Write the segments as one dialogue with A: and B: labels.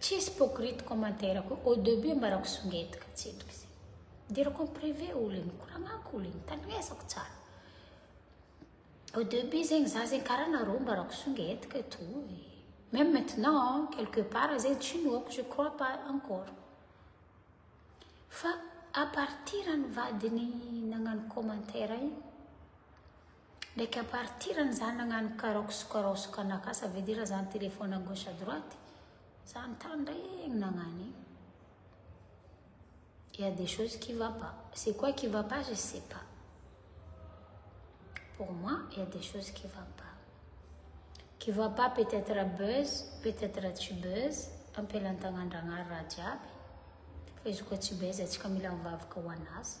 A: Tsisy hypocrite commentaire ko au debut ambarako songety ka tsy endrika izay. Idirako am privé olo e, nikoragnako olo e, nitandremezako tsara. Au debut zegny za zegny karaha nareo ambarako songety ka to e. Meme maintenant quelque part zegny tsy inoako je crois pas encore. Fa à partir ny vadiny nagnano commentaire igny Ndreky à partir an'izany nagnano karaoke sy karaoke kanaka ça veut dire zany téléphone à gauche à droite za mitandregny nagnano igny il y a des choses qui va pas c'est quoi qui va pas je sais pas pour moi il y a des choses qui va pas qui va pas peut-être à buzz peut-être à tsy buzz ampelantagn'Andragnahary raha jiaby fa izy koa tsy buzz antsika mila mivavaka ho an'azy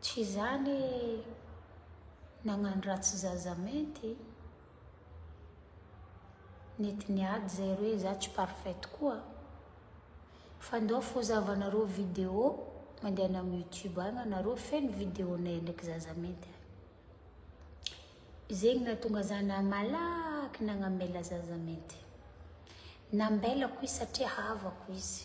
A: Tsy izany nagnano ratsy zaza mainty? Nety niady izay ireo izaho tsy parfait tokoa. Fandao fozavanareo vidéo mandehana amin'ny youtube any anareo feno vidéo nay ndraiky zaza mainty any. Zegny nahatonga za na malaky nagnamela zaza mainty. Nambelako izy satria havako izy.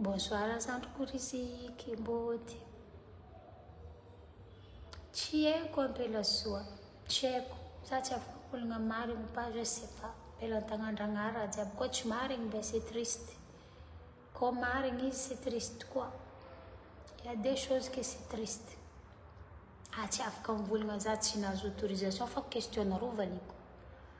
A: Bonsoir zandriko Riziki Mbody. Tsy haiko Ampelazoa, tsy haiko. Za tsy afaka ologna marigny pas je sais pas. Avela an-tagnandragnahary raha jiaby koa tsy marigny dia c'est triste. Koa marigny izy c'est triste koa. Il y a deux choses que c'est triste. Ah tsy afaka mivolagna za tsy nahazo autorisation fa question-nareo valiako.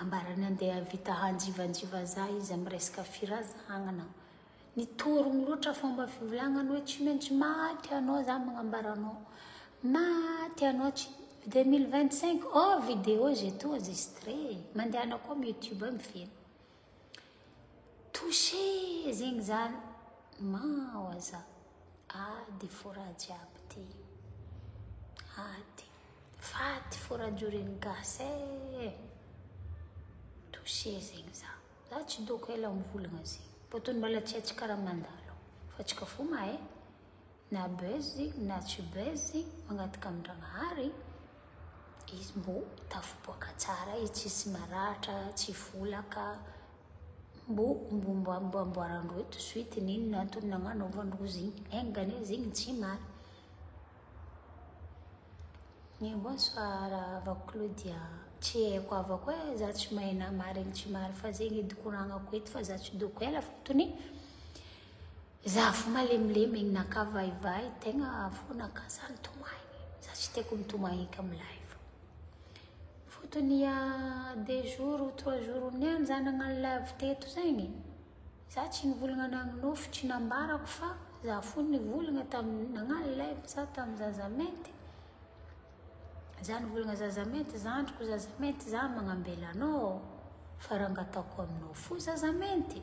A: Ambarany andeha havita hanjivanjiva za izy am resaka firazagnana. Nitorogno loatra fomba fivolagnany hoe tsy maintsy maty anao za magnambara anao. Maty anao tsy 2025 oh video zay toa enregistré. Mandehana koa am youtube ao mifehy. Touché zegny zany mao aza ady fora jiaby ty ady faty fora joren'ny gasy e touché zegny za za tsy doko ela mivolagna zegny botony mbala tsy atsy karaha mandalo fa tsika fo mahay na buzz na tsy buzz mangataka amin-dRanahary izy mbo tafiboaka tsara izy tsisy maratra tsy volaka mbo mbo amboaran-droa eto suite ny inona antony nagnanaovan-drozy igny engany izy igny tsy mary ny bonsoir va Claudia tsy haiko avako e za tsy mahay na marigny tsy mary fa zegny edy koragnako eto fa za tsy doko ela fotony Za fo malemilemy egny naka vaivay tegna fo naka za nitomagny za tsy tiako mitomagny eky am live fotony ia deux jours ou trois jours ho niany za nagnano live teto zegny za tsy nivolagna nagnofy tsy nambarako fa za fo nivolagna tam nagnano live za tam zaza mainty za nivolagna zaza mainty zandriko zaza mainty za magnambela anao fa ranga ataoko aminao fo zaza mainty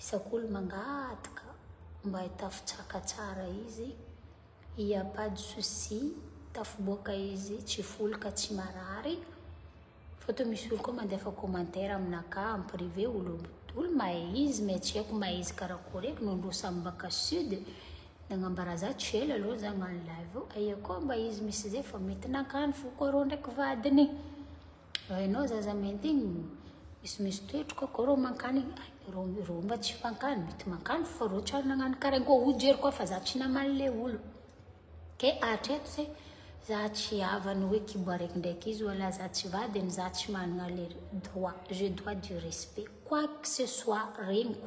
A: Isak'olo mangataka mba hitafitsaka tsara izy, il y a pas de souci, tafiboaka izy tsy folo ka tsy marary, fa toa misy olo koa mandefa commentaire aminakahy en privé olo olo mahay izy mais tsy haiko mahay izy karakory eky nony roa samy baka sud nagnambara za tsy ela aloha za nagno live io, aia koa mba izy misy zay fa mety nakany foko arô ndraiky vadiny. Raha ianao zaza maintigny, misy misy toetroka ko reo mankany, reo reo mba tsy fankany, mety mankany fa reo tsary nagnano karaha ko ho jery koa fa za tsy namaly le olo. Ke hatreto ze za tsy havany hoe kibo araiky ndraiky izy oa la za tsy vadiny, za tsy managna le droit, je dois du respect quoi que ce soit regniko.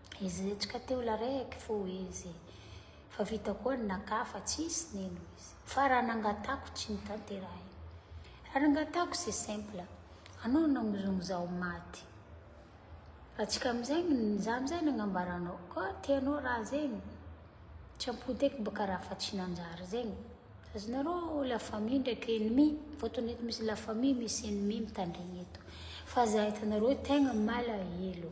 A: Izy hetsika teo la rek fo izy fa vita koa ny naka fa tsisy nino izy fa raha nangatako tsy notanterahina raha nangatako c'est simple anao nangozongozao maty raha tsika amizay za amizay nagnambara anao ko tianao raha zegny tsy ampoteky baka raha fa tsy nanjary zegny azonareo la famille ndraiky ennemi fotony eto misy la famille misy ennemi mitandregny eto fa za hitanareo tegna malahelo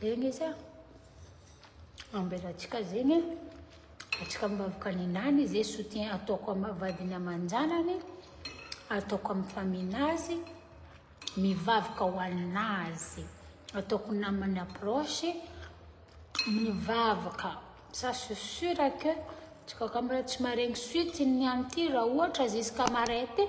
A: zegny izy a, ambelantsika zegny a, atsika mivavaka ny nany ze soutien ataoko am vadiny aman-janany, ataoko amin'ny famille-ny azy, mivavaka ho an'azy, ataoko namana proche, mivavaka, ça c'est sur que atsika ka mbola tsy maharegny suite-ny an'ity raha ohatra zisca marais ty,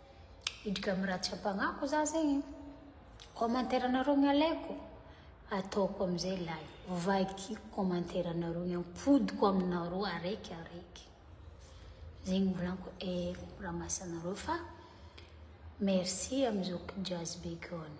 A: Indry ka miratsy ampagnako za zegny. Commentaire anareo ny alaiko, ataoko amizay live. Vakiko commentaire anareo ny ampodiko aminareo araiky araiky. Zegny volanko eh raha masy anareo fa merci amizao jazz be koa ny.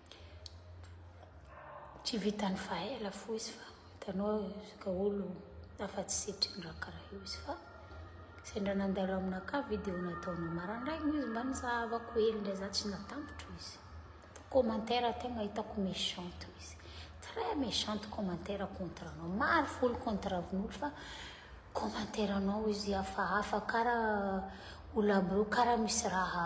A: Tsy vitan'ny faela fo izy fa hitanao kaolo afa-tsy setriny raha karaha io izy fa sendra nandalo aminakà vidéo nataonao marandraigny izy mba nizahavako hely ndray za tsy natambotro izy fa commentaire tegna hitako méchante izy très méchante commentaire contre anao maro folo contre anao fa commentaire anao izy hafahafa karaha olona karaha misy raha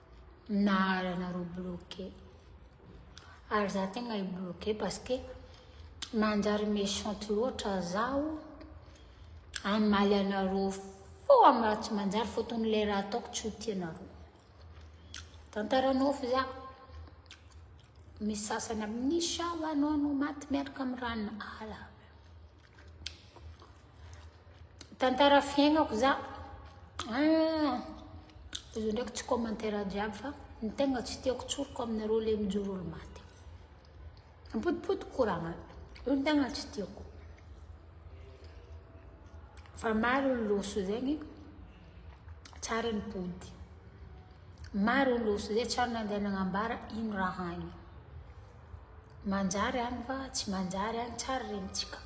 A: naharanareo bloqué ary za tegna i bloqué parce que manjary méchante loatra zaho hamaly anareo fo amy raha tsy manjary fotony le raha ataoko tsy ho tianareo tantara nofy za misy sasany amin'isa anao no maty miaraka amy ran'ala Tantara fiainako za, ah, izy ndraiky tsy commentaire jiaby fa ny tegna tsy tiako tsoriko aminareo le mijoro olo maty. Ampotipoti koragna, io ny tegna tsy tiako. Fa maro ny loso zegny, tsara ny pody. Maro ny loso zay tsary nandeha nagnambara ino raha agny. Manjary any va tsy manjary any tsara rentsika?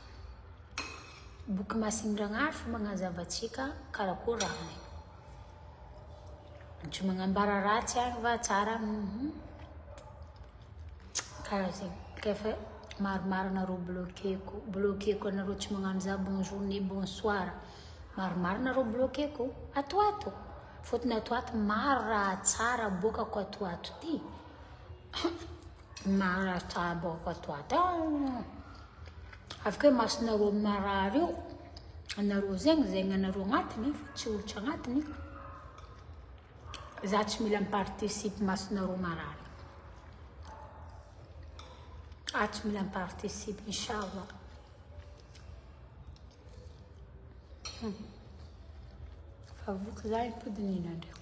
A: Boky masin'Andragnahary fa magnazava antsika karakôry raha maina. Tsy magnambara ratsy any va tsara any? Mhm. Karaha zegny. K'efa maromaro anareo bloqueko, bloqueko anareo tsy magnano za bonjour ne bonsoir. Maromaro anareo bloqueko, ato ato. Fôtony ato ato maro raha tsara aboakako ato ato ty. marary tsara baoka to ata avy koa masonareo ny marary io anareo zegny zegny anareo agnatiny fa tsy olo tsy agnatiny za tsy mila miparticipe masonareo marary a tsy mila miparticipe inshallah hmm. fa voky za ipodinina ndraiky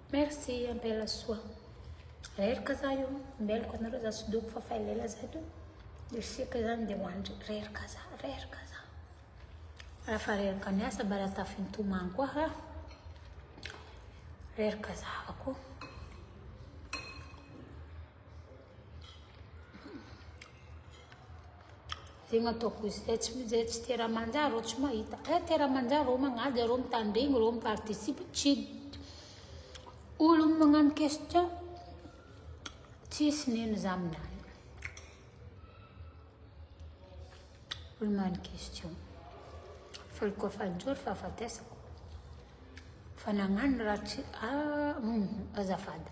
A: Merci ampela soa. Reraka za io, meloka anareo za tsy doko fa fa elaela za to isika zany de hoandry reraka za, reraka za. Raha fa reraka miasa mba raha tafintomany koa ha. Reraka za avako. Tegna ataoko izy zay tsy zay tsy tera manjary reo tsy mahita. Eh tera manjary reo magnaja reo mitandregny reo miparticipe tsy olo magnano question tsisy nino za aminany. Olo magnano question. Falo koa fanjory fahafatesako. Fa nagnano raha tsy ah, azafady.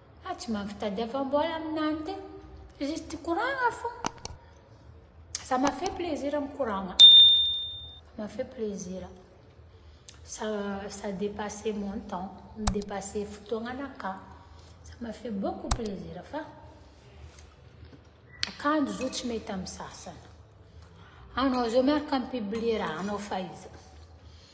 A: Ah tsy mahavy tadiavambola aminany ty. Juste tikoragna fô. Ça m'a fait plaisir mikoragna. Ça m'a fait plaisir. Ça, ça dépassait mon temps. Dépassait fotoagnanakà. Ça m'a fait beaucoup plaisir fa. Akanjo zo tsy mety amin'ny sasany. Anao zao miaraka mi-publier raha anao fa izy.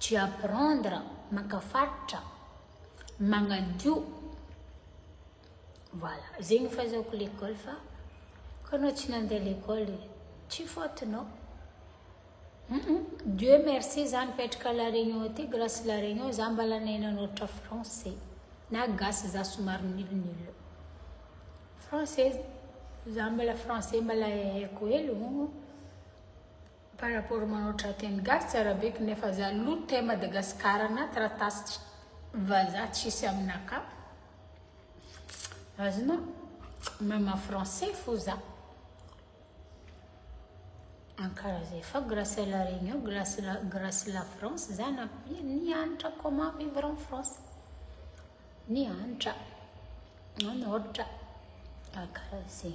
A: tu apprendre maka faritra, magnadio, voilà zegny fahazaoko l'école fa koa anao tsy nandeha l'école tsy faute nao, Dieu merci za nipetraka à la Réunion aty grâce la Réunion za mbala nahay nanoratra français na gasy za somary nul nul, français za mbala français mbala hay haiko hely ô. Par rapport manao tra teny gasy tsy arabeky nefa za lo te Madagascar na taratasy vaza tsisy amina ka azona meme français fo za ankara zay fa grace à la réunion grace la grace la France za na nianatra comment vivre en France Ny hanitra manoritra rakaraze.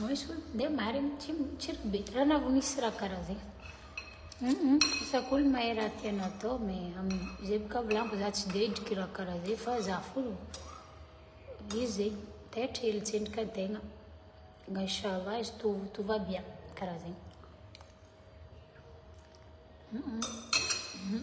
A: Misy olo dia marina tsy tsy be raha na vao misy raha karaha zegny. Mhm, isako olo mahay raha tiana atao mais amin'izay boka volaniko za tsy dia hidriky raha karaha zay fa za fo izy zegny dia atrehigny tsendriky an-tegna. Nga inchallah izy tout tout va bien karaha zegny. Mhm.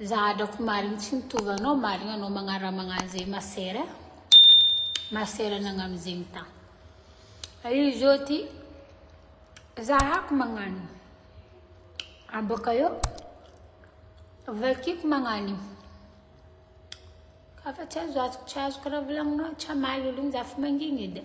A: Za hadrako marigny tsy mitovy anao marigny anao magnara magnano zay ma sœur a ma sœur nagnano zegny ta fa izy zao ty zahako magnano abôka eo vakiko magnano io ka fa tsy azo azoko tsy azoko raha volagninao tsy hamaly olo igny za fa mangigny edy a.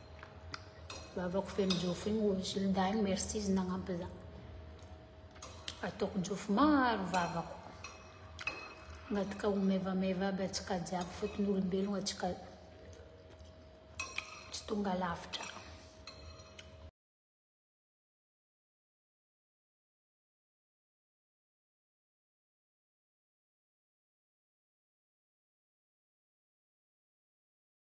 A: Vavako feno jofo igny hoy izy, lindahy igny merci izy nagnampy za. Ataoko jofo maro vavako. Agnatika ho maivamaiva aby antsika jiaby fotony olombelogno antsika tsy tonga lavitra.